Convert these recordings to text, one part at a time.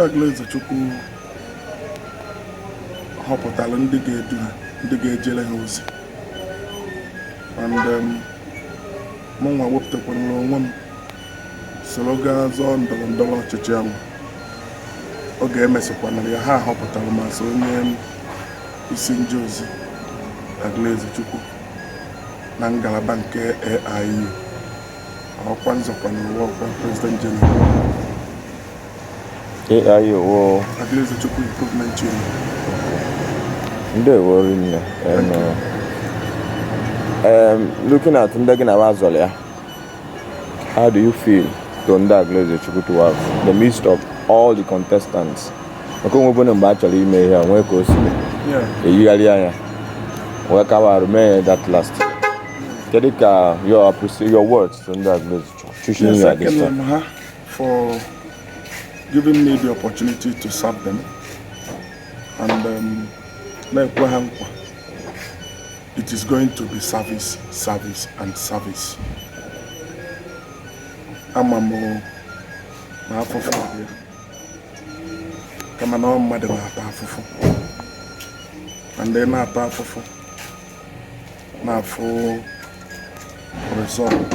Aguluezechukwu họpụtara ndị ga-edu ha ndị ga-ejere ha ozi mgbe um, mụ nwa wepụtakwanara onwe m soro gaa zọọ ndọrọ ndọrọ ọchịchị ahụ oge e mesịkwanara ya ha họpụtara m as onye um, isi nje ozi Aguluezechukwu na ngalaba nke AIU ọkwa m zọkwanara wụ ọkwa president general AIU Aguluezechukwu Improvement Chima ndewo rinne looking at ndị gị na wa zọrọ ya how do you feel to ndị Aguluezechukwu to have the midst of all the contestants maka onye ọbụna mgbe a chọrọ ime ihe nwee ka o si eyigharị anya wee kawa arụ mee that last kedu ka your your words to ndị Aguluezechukwu chuchi ihe a for giving me the opportunity to serve them and um, na-ekwe ha nkwa it is going to be service service and service ama m na afụfụ dị ya kama na ọ mmadụ na-ata afụfụ na ndị na-ata afụfụ na-afụ result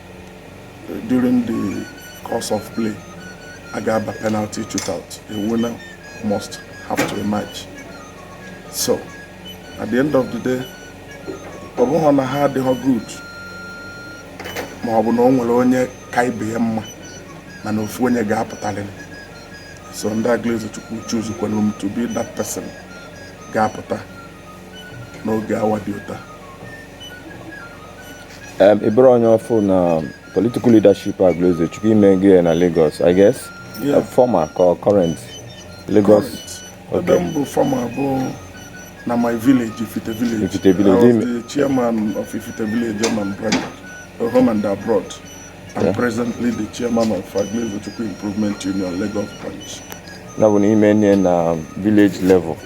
during the course of play a ga-aba penalty shootout a winner must have to emerge so at the end of the day ọ bụhọ na ha adịhọ good ma ọ bụ na o nwere onye ka ibe ya mma mana ofu onye ga-apụtarịrị so ndị Aguluezechukwu choosekwanụ m to be that person ga-apụta n'oge awa dị ụta ị bụrọ onye ọfụụ na political leadership Aguluezechukwu i mego ya na Lagos I guess yeah. former or current Lagos ebe m bụ former bụ na my village Ifite village Ifite village I was the chairman of Ifite village chairman both home and abroad I'm presently the chairman of Aguluezechukwu Improvement Union Lagos branch. That one i meene na village level.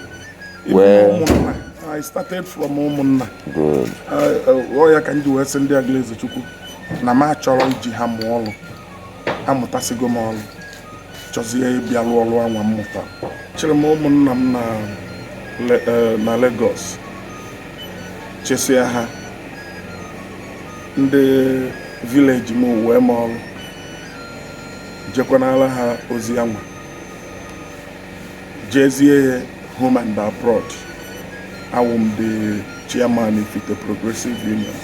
Even where I started from Umunna. Good. Ọ ya ka m ji wee sị ndị Aguluezechukwu na m achọrọ iji ha mụọ ọrụ amụtasịgo m ọrụ chọzie ịbịa rụọ ọrụ anwa m mụta chịrị m ụmụnna m na e, na Lagos chịsịa ha ndị village m wee m ọrụ jekwanala ha ozi anwa jezie ya home and abroad awụ m the chairman Ifite Progressive Union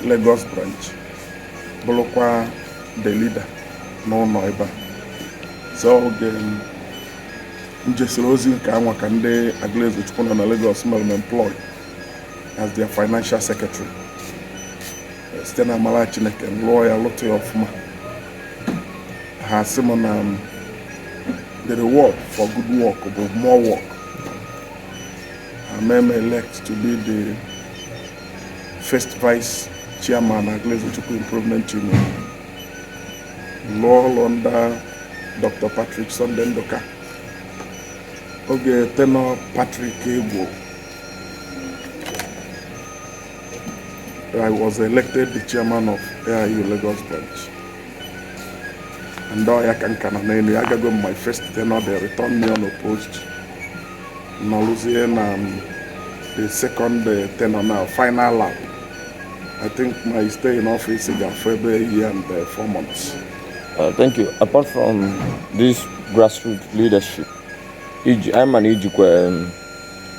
Lagos branch bụrụkwa the leader n'ụlọ ebe a so oge m jesịrị ozi nke a nwa ka ndị Agụlụezechukwu nọ na Lagos mere m employ as their financial secretary site n'amara Chineke m lụọ ya lụta ya ọfụma ha sị m na um, the reward for good work bụ more work ha mee m elect to be the first vice chairman Agụlụezechukwu Improvement Union lụọ ọrụ under Dr. Patrick Sunday Nduka oge tenure Patrick gwụrụ I was elected the chairman of AIU Lagos branch and ọ ya ka m ka nọ n'elu ya agago m my first tenure they returned me unopposed nọrụzie na um, the second uh, tenure na final lap i think my stay in office ga-afọ ebe a year and uh, four months uh, thank you apart from this grassroots leadership i ji anyị ma na i jikwa um,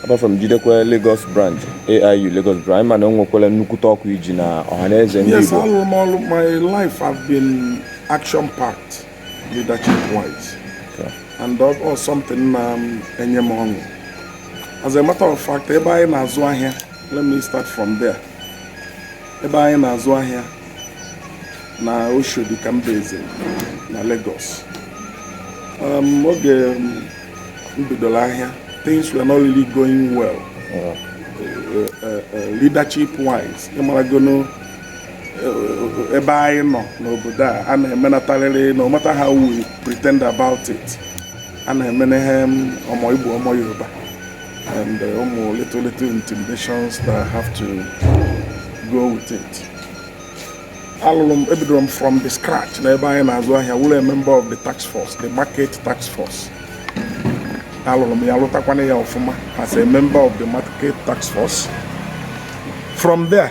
apart from jidekwa Lagos branch AIU Lagos branch anyị ma na o nwekwara nnukwute ọkwa i ji na Ọhanaeze ndị Igbo yes alụrụ m ọrụ my life have been action packed leadership wise and ọ something na-enye um, m ọṅụ as a matter of fact ebe anyị na-azụ ahịa let me start from there ebe anyị na-azụ ahịa na Oshodi ka m bizi na Lagos um, oge um, m bidoro ahịa things were not really going well uh, uh, uh, leadership wise ị maragonụ ebe anyị nọ n'obodo a a na-emenatarịrị no matter how we pretend about it a na-emene ihe ọmọ Igbo ọmọ Yoruba and uh, ụmụ little little intimidations that have to go with it alụrụ m ebidoro m from the scratch na ebe anyị na-azụ ahịa wụrụ a member of the task force the market task force alụrụ m ya lụtakwana ya ọfụma as a member of the market task force from there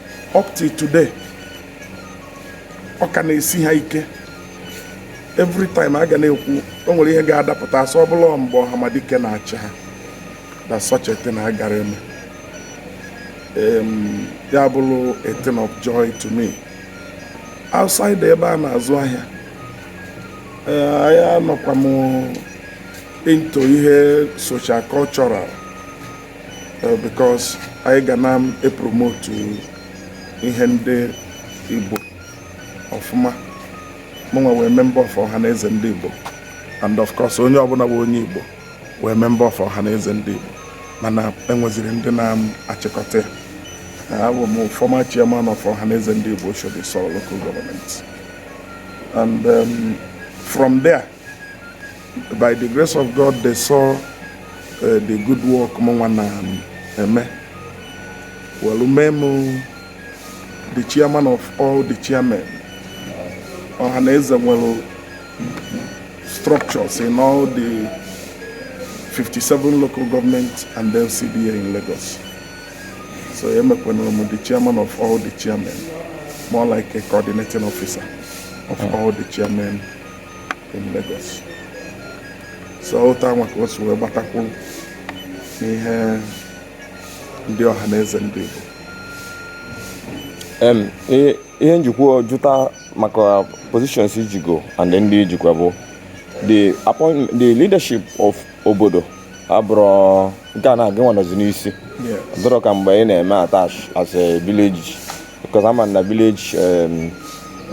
up till today ọ ka na-esi ha ike every time a ga na-ekwu o nwere ihe ga-adapụta a sị ọ bụrụ mgbe Ọhamadike na-achị ha na such a thing agara eme ya abụrụ a thing of joy to me outside ebe a na-azụ ahịa eh, ahịa anọkwa m into ihe social cultural eh, because anyị ga na-epromotu ihe ndị Igbo ọfụma mụnwa wụ member of Ohaneze ndị Igbo and of course onye ọbụla bụ onye Igbo wụ member of Ohaneze ndị Igbo mana enweziri ndị na-achịkọta ya abụ m former chairman of Ohaneze Ndị Igbo Oshodi Isolo local government and um, from there by the grace of God they saw uh, the good work mụnwa na-eme um, welu mee m the chairman of all the chairmen ọha na eze nwere structures in all the 57 local government and then CBA in Lagos so emekwanụrụ m the chairman of all the chairmen more like a coordinating officer of all the chairmen in Lagos so otu anwa ka o si wee gbatakwu n'ihe ndị Ohaneze ndị Igbo ihe m jikwa jụta maka positions i jigo and ndị i jikwa bụ the appoint the leadership of obodo abụrụ nke a na gị nwa nọzi n'isi dịrọ ka mgbe ị na-eme attach as a village because a ma na village um,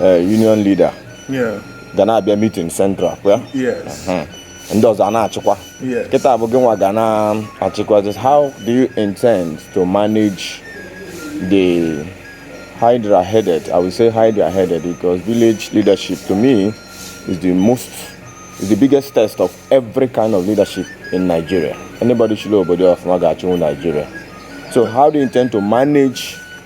uh, union leader Yeah. ga na-abịa meeting central kwa Yes. Hmm. ndị ọzọ a na-achịkwa Yes. kịta bụ gị nwa ga na-achịkwa this how do you intend to manage the hydra headed i will say hydra headed because village leadership to me is the most is the biggest test of every kind of leadership in nigeria anybody chịlụ obodo ọfụma ga-achịnwu nigeria so how do you intend to manage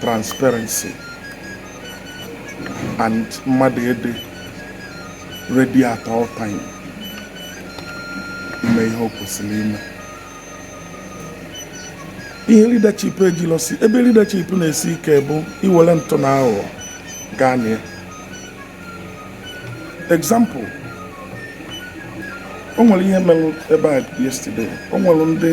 transparency and mmadụ ịdị ready at all time ime ihe o kwesịrị ime ihe leadership ejilọsi ebe leadership na-esi ike bụ i were ntụ na aghụghọ gaa na ya example o nwere ihe mere ebe a yesterday o nwere ndị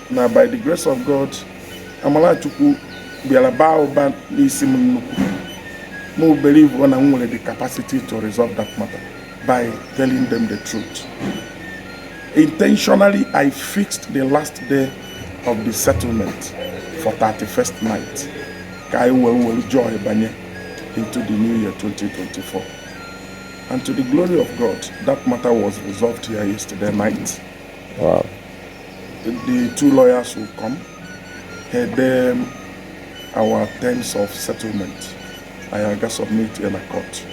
na by the grace of God amala Chukwu bịara baa ụba n'isi m nnukwu m believe na m nwere the capacity to resolve that matter by telling them the truth intentionally I fixed the last day of the settlement for 31st night ka anyị wee were joy banye into the new year 2024 and to the glory of God that matter was resolved here yesterday night Wow. The two lawyers will come, hand them our terms of settlement. Anyị ga submit ya na court.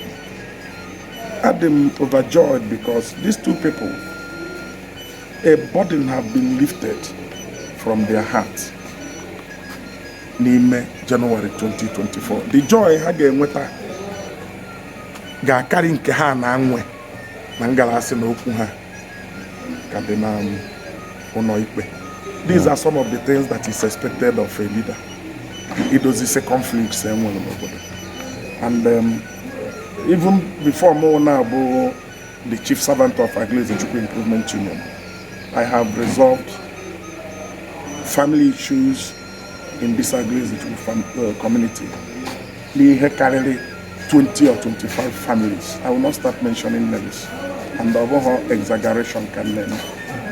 Adị m overjoyed because these two people, a burden have been lifted from their heart. n'ime January 2024 the joy ha ga-enweta ga-akarị nke ha na-enwe na ngalasị na okwu ha ka dị na ụnọ ikpe these are some of the things that is expected of a leader idozisi conflicts e nwere n'obodo and um, even before mụ na-abụ the chief servant of Aguluezechukwu Improvement Union I have resolved family issues in this Aguluezechukwu fam- uh, community n'ihe karịrị 20 or 25 families I will not start mentioning names and ọ bụghị exaggeration ka m na-eme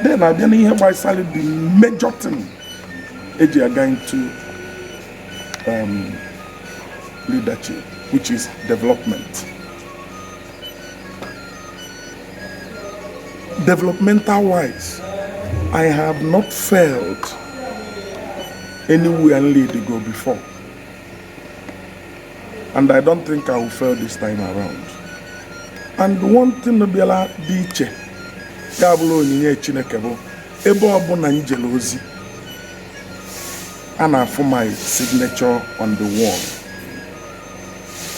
then a bịa n'ihe gbasara the major thing e ji aga into um, leadership which is development developmental wise I have not failed anywhere m lead go before and I don't think I will fail this time around and one thing bịara dị iche ya bụrụ onyinye Chineke bụ ebe ọbụna m jere ozi a na-afụ my signature on the wall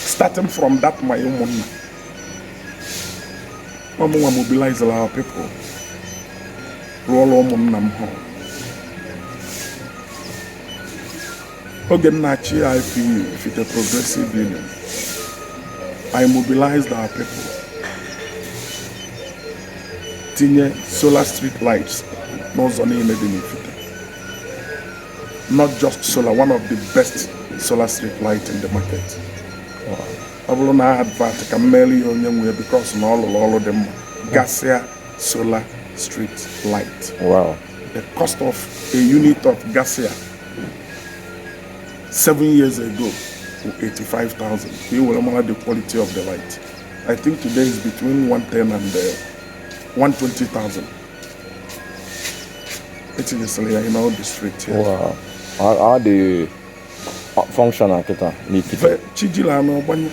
starting from that my ụmụnna ọ mụnwa mobilizere our people rụọra ụmụnna m hall Oge m na-achị IPU Ifite Progressive Union, I mobilized our people tinye solar street lights n'ụzọ niine dị n'Ifite. Not just solar, one of the best solar street light in the market. Ọ bụrụ na ọ advert ka m meere ya onye nwe ya because na ọ rụrụ ọrụ dị mma Garcia solar street light. Wow. The cost of a unit of Garcia seven years ago wụ 85,000 ka ị were mara the quality of the light I think today is between 110 and uh, 120,000 e tinyesịrị ya in all the street here. Wow. Ha, ha dị functional kịta n'Ifite? Ve- chi jila anụ ọ gbanye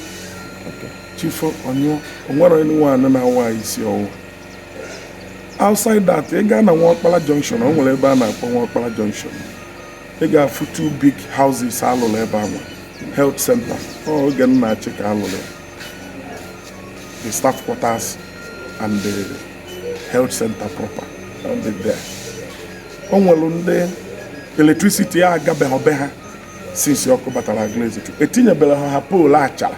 Okay. chi fo ọ nyụọ o nwerọ anyone na-awa isi ọwụ outside that ị gaa na Nwokpala junction o nwere ebe a na-akpọ Nwokpala junction ị ga-afụ two big houses a lụrụ ebe ahụ health center ọ oge m na-achị ka a lụrụ ya. the staff quarters and the health center proper ọ dị there o nwere ndị electricity agabeghị be ha since ọkụ batara Aguluezechukwu e tinyebere ha ha pole achara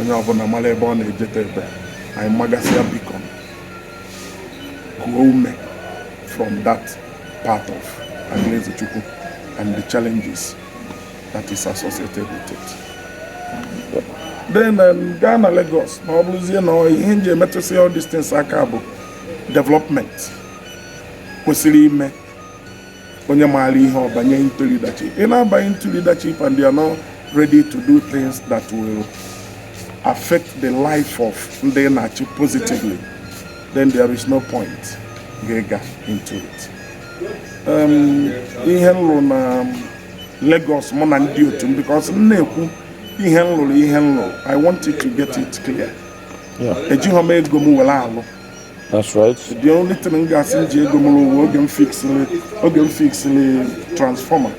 onye ọbụla mara ebe ọ na-ejeta ebe anyị magasịa biko kuo ume from that part of Aguluezechukwu and the challenges that is associated with it. then um, gaa na Lagos ma ọ bụrụzie na ihe nji emetụsị all these things aka bụ development kwesịrị ime onye maara ihe ọ banye into leadership ị na-abanye into leadership and you are not ready to do things that will affect the life of ndị ị na-achị positively then there is no point gị ịga into it um, ihe nlụ na Lagos mụ na ndị otu m because m na-ekwu ihe nlụrụ ihe nlụrụ I want you to get it clear ejighọ m ego m were alụ That's right. The only thing m ga-asị m ji ego m rụ wụ oge m fixili oge m fixili transformer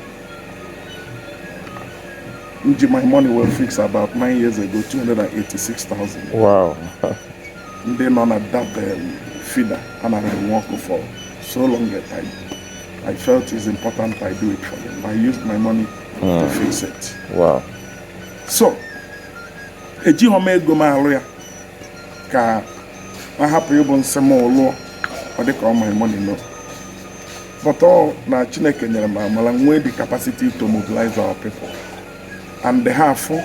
m ji my money wee fix about nine years ago 286,000 Wow. ndị nọ na that um, feeder anaghị enwe ọkụ for so long a time I felt it's important I do it for them I used my money to fix it Wow. so ejighọ m ego m alụ ya ka ọ hapụ ịbụ nsị mụ lụọ ọ dịka ọ my money no but ọ na chineke nyere m amala nwee the capacity to mobilize our people and ha afụ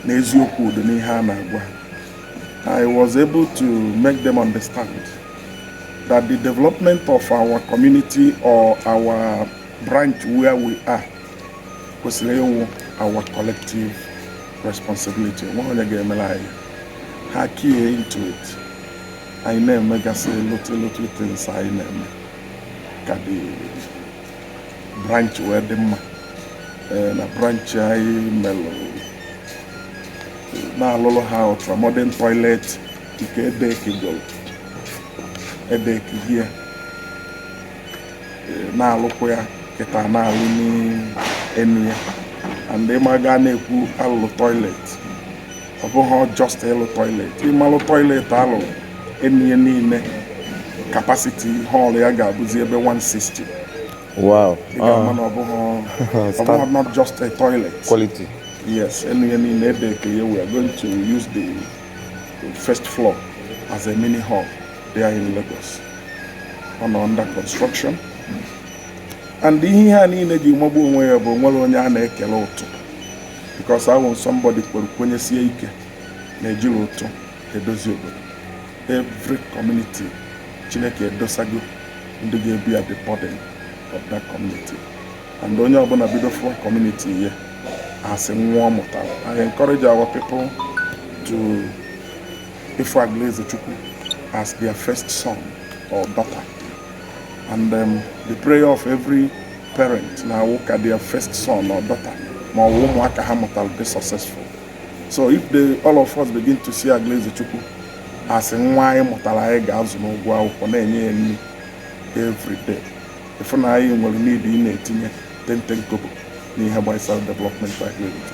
na eziokwu dị n'ihe a na-agwa ha I was able to make them understand that the development of our community or our branch where we are kwesịrị ịwụ our collective responsibility onwere onye ga-emere anyị ha key into it anyị na-emegasị little little things anyị na-eme ka the branch wee dị mma eh, na branch anyị melụ na alụlụ ha ultramodern toilet nke e deckigoro e deckigo ya eh, na-alụkwa ya kịta na-alụ n'enu ya and ị ma a ga na-ekwu alụlụ toilet ọ bụghị just ịlụ toilet ịmalụ toilet alụrụ enu ya niile capacity hall ya ga-abụzi ebe 160 wow ah. na ọ bụghị not just a toilet quality yes enu ya niile e deckie ya we are going to use the first floor as a mini hall there in Lagos ọ nọ under construction and ihe ihe a niile ji magbuo onwe ya bụ onwere onye a na-ekele ụtụ because awụ somebody kwere kwenyesie ike na e jiri ụtụ edozi obodo every community chineke edosago ndị ga-ebear the burden of that community and onye ọbụla bido fụwa community ya as nwa ọ mụtara I encourage our people to ịfụ Agụlụezechukwu as their first son or daughter and um, the prayer of every parent na-awụ ka their first son or daughter ma ọ bụ ụmụaka ha mụtara be successful so if all of us begin to see Agụlụezechukwu as nwa anyị mụtara anyị ga-azụ n'ụgwọ akwụkwọ na-enye ya nri every day ị fụ na anyị nwere need ịna-etinye ten ten kobo n'ihe gbasara development Agụlụeze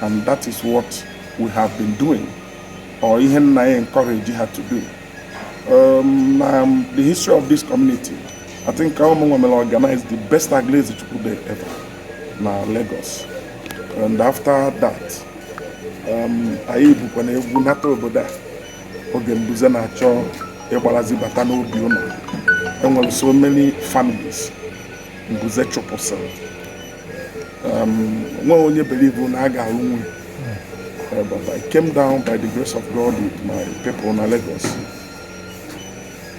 and that is what we have been doing or ihe m na-encourage ha to do Um, um, the history of this community, I think ọ wụ mụnwa mere organize the best Agụlụezechukwu Day ever na Lagos. And after that, um, anyị bukwanụ egwu nata obodo a oge mbuze na-achọ ịgbarazi bata n'obi ụnọ e nwere so many families mbuze chụpụsịrị Um, nwe onye believe na a ga-arụnwu ya uh, but I came down by the grace of God with my people na Lagos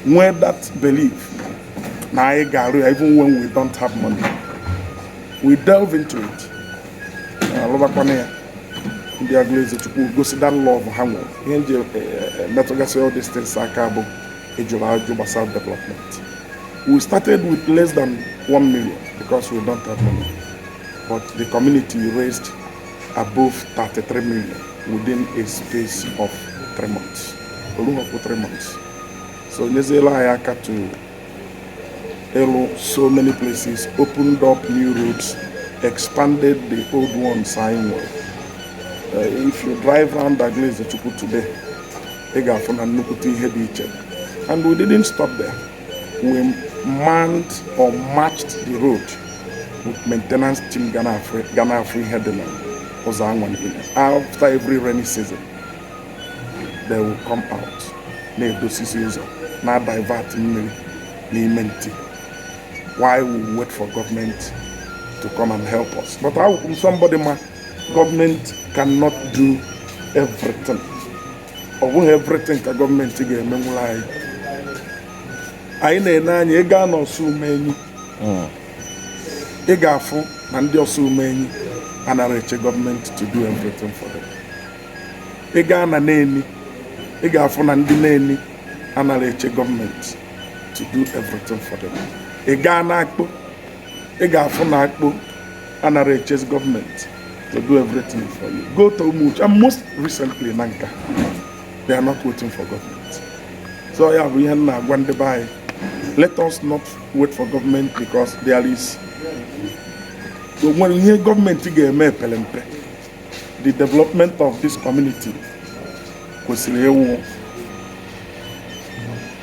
nwee that belief na anyị ga-arụ ya even when we don't have money we delve into it a lụbakwanụ ya ndị Agụlụezechukwu gosi that love ha nwere ihe m ji eh, eh, metụgasị all these things aka bụ ị jụrụ ajụ gbasara development we started with less than 1 million because we don't have money but the community raised above 33 million within a space of 3 months o luhọkwụ 3 months so nyeziela anyị aka to ịlụ so many places opened up new roads expanded the old ones anyị nwere uh, if you drive round Agụlụezechukwu today ị ga-afụ na nnukwute ihe dị iche and we didn't stop there we manned or matched the road with maintenance team ga na-afụ ihe dị na ụzọ anwa niile after every rainy season they will come out na-edosisi ụzọ na-adivert mmiri n'ime nti while we wait for government to come and help us but awụkwụ m somebody ma gọọmenti cannot do everything ọ bụghị everything ka gọọmenti ga-emenwuru anyị anyị na-ene anya ị gaa n'Ọsụmenyi hmm. ị ga-afụ na ndị Ọsụmenyi anara eche gọọmenti to do everything for them ị gaa na Neni ị ga-afụ na ndị Neni anara eche gọọmenti to do everything for them ị gaa n'Akpo ị ga-afụ na Akpo anara echezi gọọmenti to do everything for you go to Umuchu and most recently Nanka they are not waiting for government so ya bụ ihe m na-agwa ndị be anyị let us not wait for government because there is o nwere ihe gọọmenti ga-eme epere mpe the development of this community kwesịrị ịwụ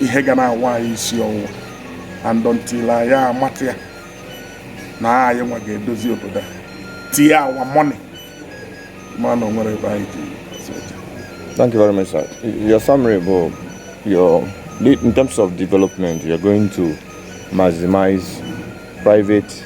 ihe ga na-awa anyị isi ọwụwa and until anyị amata ya na anyị nwa ga-edozi obodo a tinye our money ma na o nwere ebe anyị ji Thank you very much, sir. Your summary bụ in terms of development, you're going to maximize private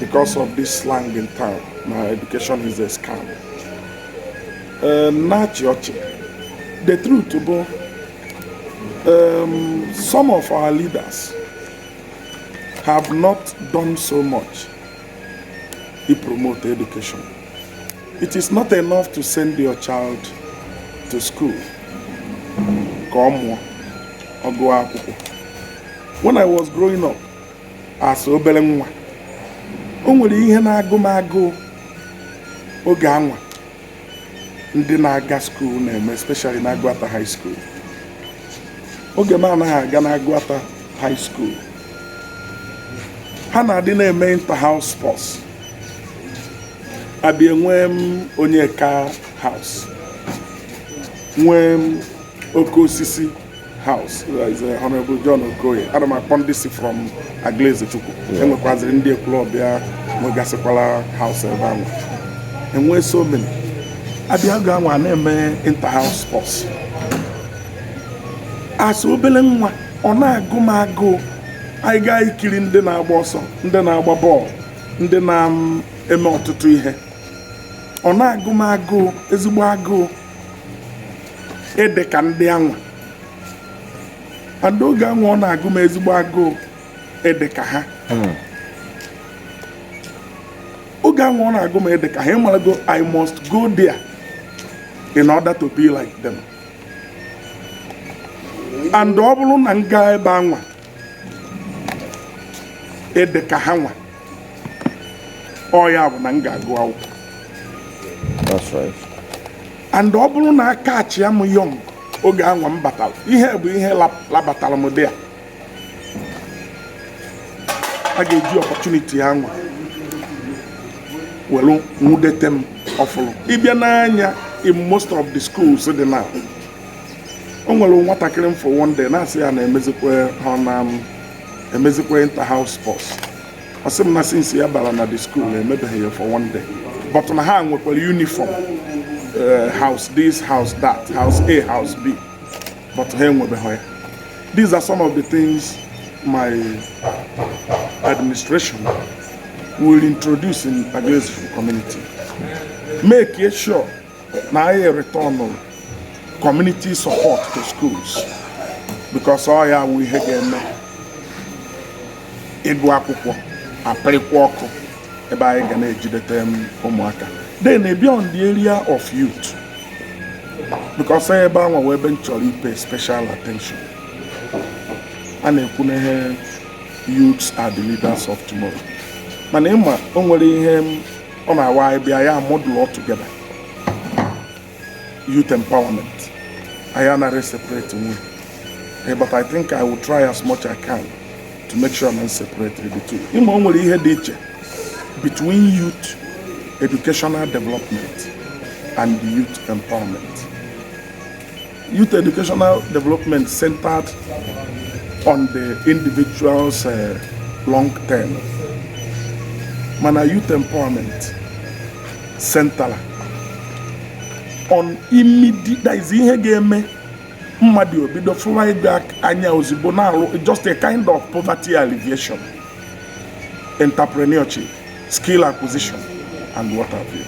because of this slang in town na education is a scam m na-achị ọchị the truth bụ um, some of our leaders have not done so much to promote education it is not enough to send your child to school ka ọ mụọ ọgụ akwụkwọ when i was growing up as obere nwa o nwere ihe na-agụ m agụụ oge anwa ndị na-aga skuul na-eme especially na Agụata high school oge m anaghị aga na Agụata high school ha na-adị na-eme inter-house sports a bịa nwee em Onyeka house nwee em Oke Osisi House uh, is uh, Honorable John Okoye ana m akpọ ndị si from Aguluezechukwu e nwekwaziri ndị Ekwulọbịa nwegasịkwala house ebe anwa e nwee so many a bịa oge anwa na-eme inter-house sports as obere nwa ọ na-agụ m agụụ anyị gaa ikiri ndị na-agba ọsọ ndị na-agba bọọlụ ndị na-eme ọtụtụ ihe ọ na-agụ m agụụ ezigbo agụụ ịdị ka ndị anwa and oge anwa ọ na-agụ m ezigbo agụụ ịdị ka ha hmm. oge anwa ọ na-agụ m ịdị ka ha ị marago i must go there in order to be like them and ọ bụrụ na m gaa ebe anwa ịdị ka ha nwa ọ ya bụ na m ga-agụ akwụkwọ That's right. and ọ bụrụ na a catchịa m young oge anwa m batara ihe bụ ihe lap- labatara m dị ya a ga-eji opportunity anwa were nwudete m ọfụrụ ị bịa nee anya in most of the schools dị na o nwere nwatakịrị m fụ one day na-asị ya na emezikwa ha na-emezikwa inter house sports ọ sị m na since ya bara na the school emebeghị ya for one day but na ha nwekwara uniform eh, house this house that house a house b but ha enwebeghị ya these are some of the things my administration will introduce in Agụlụezechukwu community. Make sure na anyị ereturnụ community support to schools because ọ ya wụ ihe ga-eme ịgụ akwụkwọ apịrịkwa ọkụ ebe anyị ga na-ejidete ụmụaka then beyond the area of youth because ebe anwa wụ ebe m chọrọ ịpay special attention a na-ekwu na the youths are the leaders of tomorrow mana ịma o nwere ihe ọ na-awụ anyị bịa ya muddle all together youth empowerment anyị anaghị separate nwe eh, but I think I will try as much I can to make sure na m separate the two ịma o nwere ihe dị iche between youth educational development and youth empowerment Youth Educational Development centered on the individual's uh, long term mana youth empowerment centered on immediate that is ihe ga-eme mmadụ obido fụwa ego anya ozugbo na-arụ just a kind of poverty alleviation entrepreneurship skill acquisition and what have you.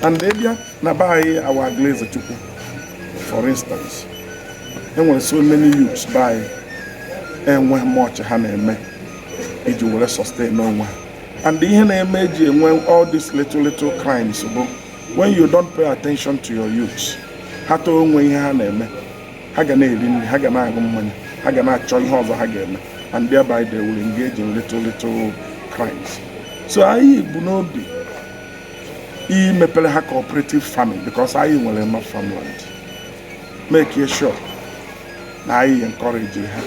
And India, na be anyị a wụ Agụlụezechukwu for instance e nwere so many youths be anyị enwe much ha na-eme iji were sustain onwe ha and ihe na-eme e ji enwe all these little little crimes bụ when you don't pay attention to your youths ha too o nwe ihe ha na-eme ha ga na-eri nri ha ga na-aṅụ mmanya ha ga na-achọ ihe ọzọ ha ga-eme and thereby they will engage in little little crimes so anyị bu n'obi imepere ha cooperative farming because anyị nwere enough farmland make sure na anyị encourage ha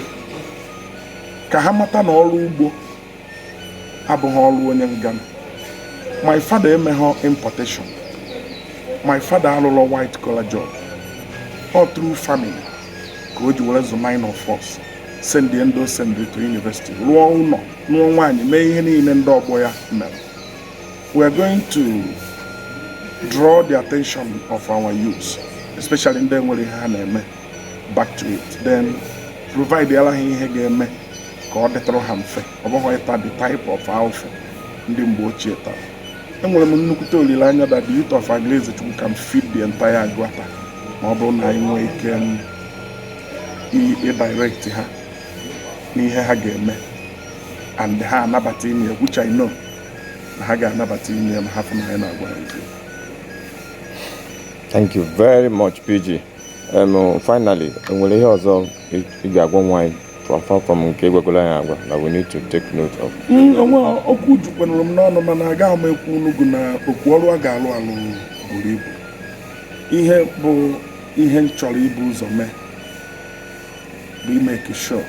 ka ha mata na ọrụ ugbo abụghị ọrụ onye ngana my father emeghọ importation my father arụrọ white collar job all through farming ka o ji were zụ nine of us sendie ndị o sendiri to university rụọ ụnọ nụọ nwaanyị mee ihe niile ndị ọgbọ ya mere We are going to draw the attention of our youth, especially ndị enwerọ ihe ha na-eme back to it then provideara ha ihe ga-eme ka ọ dịtụrụ ha mfe ọ bụghị ịta the type of afụfụ ndị mgbe ochie tara enwere m nnukwute olileanya that the youth of Agụlụezechukwu can feed the entire Agụata ma ọ bụrụ na anyị nwee ike um, ịdirect ha n'ihe ha ga-eme and ha anabata ime which I know na ha ga-anabata ime ya ma ha fụ na anyị na-agwa ha eziokwu Thank you very much, PG. Um, finally, enwere ihe ọzọ ị ị ga-agwanwu anyị apart from nke ị gwagoro anyị agwa na we need to take note of. Mm, o nwe okwu jukwanụrụ m n'ọnụ mana agaghị m ekwu unu gụ na okwu ọrụ a ga-alụ alụ buru ibu ihe bụ ihe m chọrọ ibu ụzọ mee bụ ịmake sure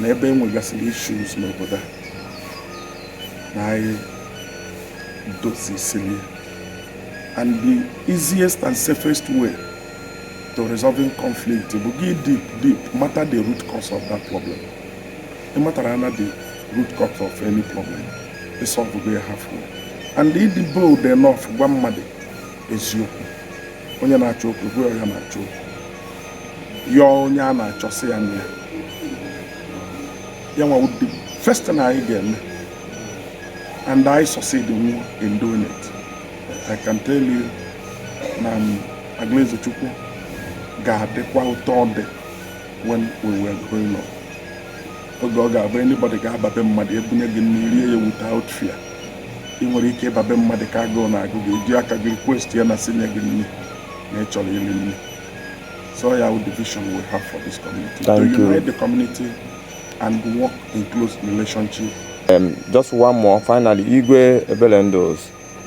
na ebe e nwegasịrị issues n'obodo a na anyị dozisiri ya. and the easiest and safest way to resolving conflict bụ gị dig deep mata the root cause of that problem ị matara na the root cause of any problem ịsolvego ya halfway and ịdị bold enough gwa mmadụ eziokwu onye na-achọ okwu gwa ya na ọ na-achọ okwu yọọ onye a na-achọsị ya na ya ya nwa wụ the first na anyị ga-eme and anyị succeed nwu in doing it I can tell you na um, Agụlụezechukwu ga-adịkwa ụtọ ọ dị when we were growing up oge ọ ga-abụ anybody ga-aba be mmadụ e bunye gị nri rie ya without fear ị nwere ike ịba be mmadụ ka agụụ na-agụ gị eji aka gị request ya na sinye gị nri na ị chọrọ iri nri so ya wụ the vision we have for this community to Thank you. unite the community and work in close relationship Um, just one more finally Igwe Ebelendu's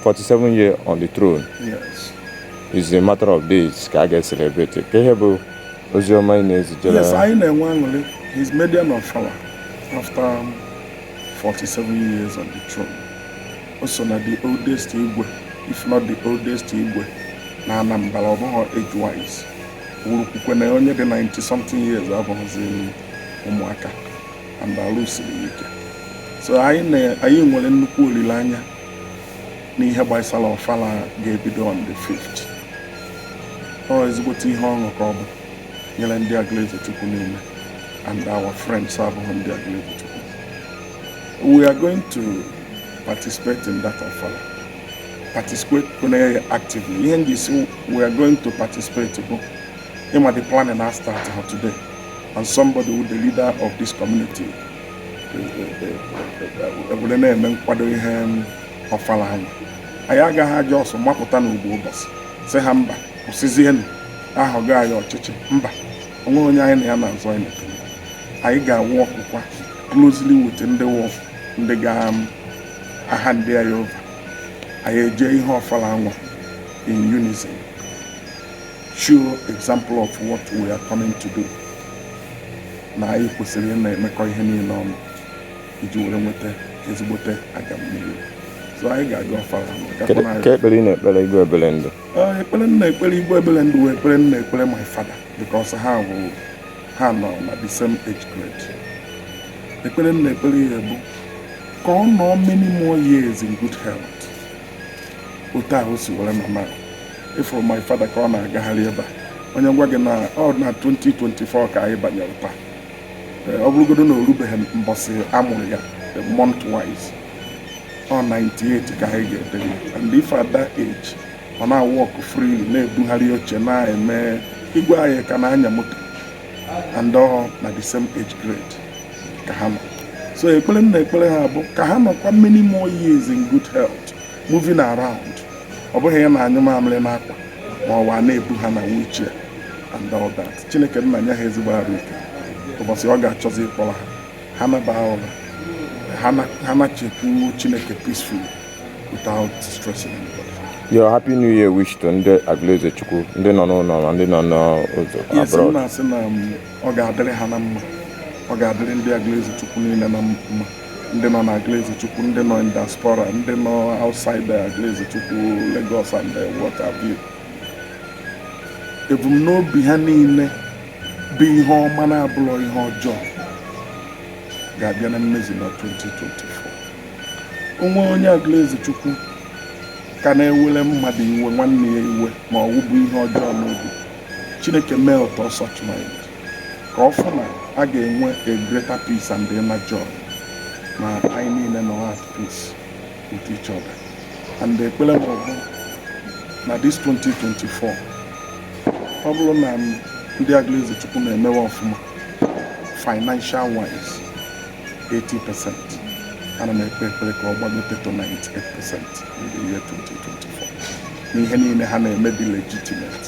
47 year on the throne yes. is a matter of days ka a ga-ecelebrate kee ihe bụ ozi ọma ị na-ezijere yes anyị na-enwe aṅụrị his maiden ọfala after 47 um, years on the throne o so na the oldest igwe if not the oldest igwe na Anambra ọ bụghị age wise wurukwukwe na onye dị 90 something years abụghịzi ụmụaka and arụ siri ike so anyị nwere nnukwu olileanya n'ihe gbasara ọfala ga-ebido on the 5th ọ ezigbote ihe ọṅụ ka ọ bụ nyere ndị Agụlụezechukwu niile and our friends abụghị ndị Agụlụezechukwu we are going to participate in that ọfala participate actively ihe m ji sị we are going to participate bụ ị ma the planning astartha today and somebody wụ the leader of this community obodo na-eme nkwado ihe ọfala a nwa anyị agaghị eji ọsọ mapụta n'ofu ụbọchị sị ha mba kwụsịzienụ a họgo anyị ọchịchị mba o nweghị onye anyị na ya na-azọ anyị anyị ga-aworkụkwa closely with ndị wụ ndị ga-ahandị anyị over anyị eje ihe ọfala a nwa in unison show example of what we are coming to do na anyị kwesịrị ị na-emekọ ihe niile ọnụ iji were nweta ezigbote agamnihu so anyị ga-aga far ka ekpere ị na-ekpere igwe Ebelendu ekpere m na-ekpere igwe Ebelendu wụ ekpere m na-ekpere my father because ha bụ ha nọ na the same age grade ekpere m na-ekpere ya bụ ka ọ nọọ many more years in good health otu ahụ o si were nọ na ị fụrụ my father ka ọ na-agagharị ebe a onye gwa gị na ọ na 2024 ka anyị banyere taa eh, ọ bụrụgodu na o rubeghị mbọsị a mụrụ ya eh, month wise ọ 98 ka anyị ga-edere and if at that age ọ na-awalk free na-ebugharị oche na-eme igwe anyị ka na-anya moto and ọ na the same age grade ka ha nọ so ekpere m na-ekpere ha bụ ka ha nọkwa many more years in good health moving around ọ bụghị a na-anyụ mamịrị n'akwa ma ọ wụ a na-ebu ha na wheelchair and all that chineke nna nye ha ezigbo arụ ike ụbọchị ọ ga-achọzi ịkpọrọ ha ha naba ụra ha na-ejekwu chineke peacefully without stressing anybody. Your happy new year wish to ndị Aguluezechukwu ndị nọ n'ụlọ na ndị nọ n'ụzọ abroad. Yes, na-asị na ọ ga-adịrị ha na mma ọ ga-adịrị ndị Aguluezechukwu niile na mma ndị nọ n'Aguluezechukwu ndị nọ in diaspora ndị nọ outside Aguluezechukwu Lagos and what have you ebumnobi ha niile bụ ihe ọma na-abụrọ ihe ọjọọ ga-abịa na mmezu na 2024 o nwee onye Aguluezechukwu ka na-ewere mmadụ iwe nwanne ya iwe ma ọ wụ bu ihe ọjọọ n'obi Chineke melt such mind ka ọ fụ na a ga-enwe a greater peace and inner joy na anyị niile nọ at peace with each other and ekpere m bụ na this 2024 ọ bụrụ na ndị Aguluezechukwu na-emewe ọfụma financial wise 80 percent ana m ekpe ekpere ka ọ gbagote to 98 percent in the year 2024 n'ihe niile ha na-eme dị legitimate